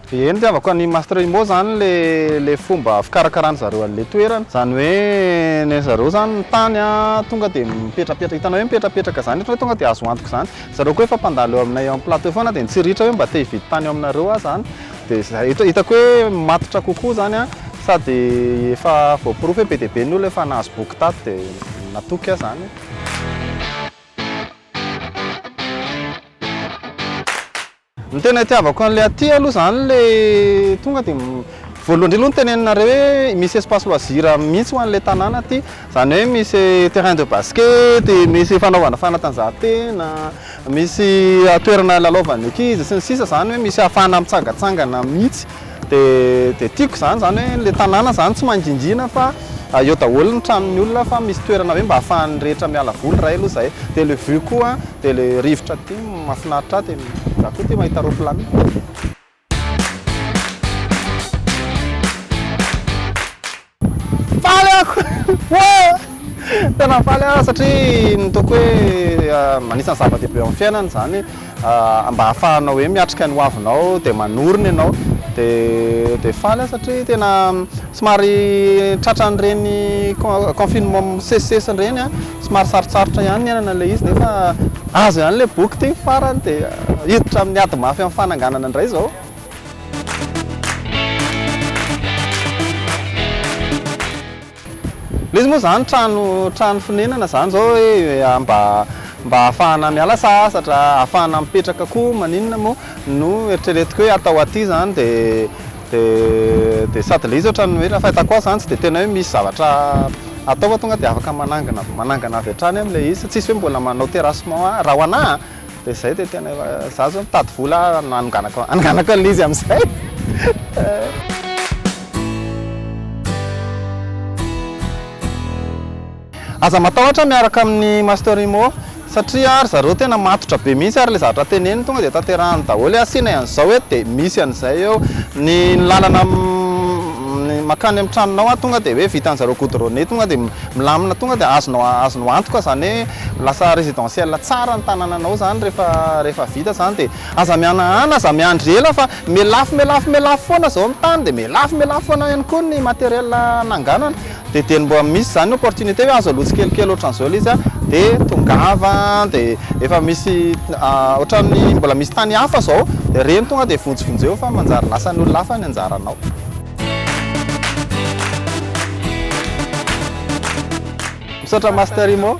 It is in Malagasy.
Eny tiavako an'i Master Imo zany le le fomba fikarakarany zareo an'le toerana. Zany hoe ny an'i zareo zany ny tany a tonga de mipetrapetraka, hitanao hoe mipetrapetraka zany ohatran'ny hoe tonga de azo antoka zany. Zareo koa efa mpandalo eo aminay eo amin'ny plateau foana de nitsiritra hoe mba te hividy tany eo aminareo aho zany Dia izay, hita, hitako hoe matotra kokoa izany an, sady efa voaporofo hoe be dia be ny olona efa nahazo boky tato dia natoky aho izany. Ny tena itiavako an'ilay aty aloha izany ilay tonga dia voalohany indrindra aloha ny teneninareo hoe misy espace loisir mihitsy ho an'ilay tanàna aty, izany hoe misy terrain de basket, misy fanaovana fanatanjahantena, Misy toerana lalaovan'ny ankizy sy ny sisa izany hoe misy ahafahana mitsangatsangana mihitsy dia tiako izany, izany hoe ilay tanàna izany tsy mangingina fa eo daholo ny tranon'ny olona fa misy toerana hoe mba ahafahan'ny rehetra miala voly iray aloha izay dia ilay vue koa dia ilay rivotra aty mahafinaritra ahy dia izaho koa tia mahita roaplanina. Faly ako! Tena faly aho satria ny toko hoe ah, anisan'ny zava-dehibe eo amin'ny fiainana izany ah, mba ahafahanao hoe miatrika ny hoavinao dia manorina ianao dia dia faly aho satria tena somary tratran'ireny con- confinement misesisesy ireny ah. Somary sarotsarotra ihany ny hiainana ilay izy nefa azo ihany ilay boky ity farany dia hiditra amin'ny ady mafy amin'ny fananganana indray izao. Ilay izy moa izany trano trano fonenana izany izao hoe mba mba ahafahana miala sasatra, ahafahana mipetraka koa maninona moa no eritreretiko hoe atao aty izany dia Dia dia sady ilay izy ohatran'ny hoe raha ny fahitako azy izany tsy dia tena hoe misy zavatra atao fa tonga dia afaka manangana manangana avy hatrany amin'ilay izy, tsisy hoe mbola manao terrassement a, raha ho anà a, dia izay dia tena efa, izaho izao mitady vola hanonganako hanonganako an'ilay izy amin'izay. Aza matahotra miaraka amin'ny Master Imo satria ry zareo tena matotra be mihitsy ary ilay zavatra teneniny tonga dia tanterahiny daholo hoe asiana an'izao eto dia misy an'izay eo, ny lalana mankany amin'ny tranonao tonga dia hoe vitan'ny zareo goudronner tonga dia milamina tonga dia azonao azonao antoka izany hoe lasa residentiel tsara ny tanananao izany rehefa rehefa vita izany dia aza mihanahana aza miandry ela fa miha lafo miha lafo miha lafo foana izao ny tany dia miha lafo miha lafo foana ihany koa ny materiel nanganana. dia dia ny mbola misy izany opportunité hoe azo aloha tsikelikely ohatran'izao ilay izy dia tongava dia efa misy ohatran'ny mbola misy tany hafa izao dia ireny tonga dia vonjivonjeo fa manjary lasan'ny olona hafa ny anjaranao misaotra master imo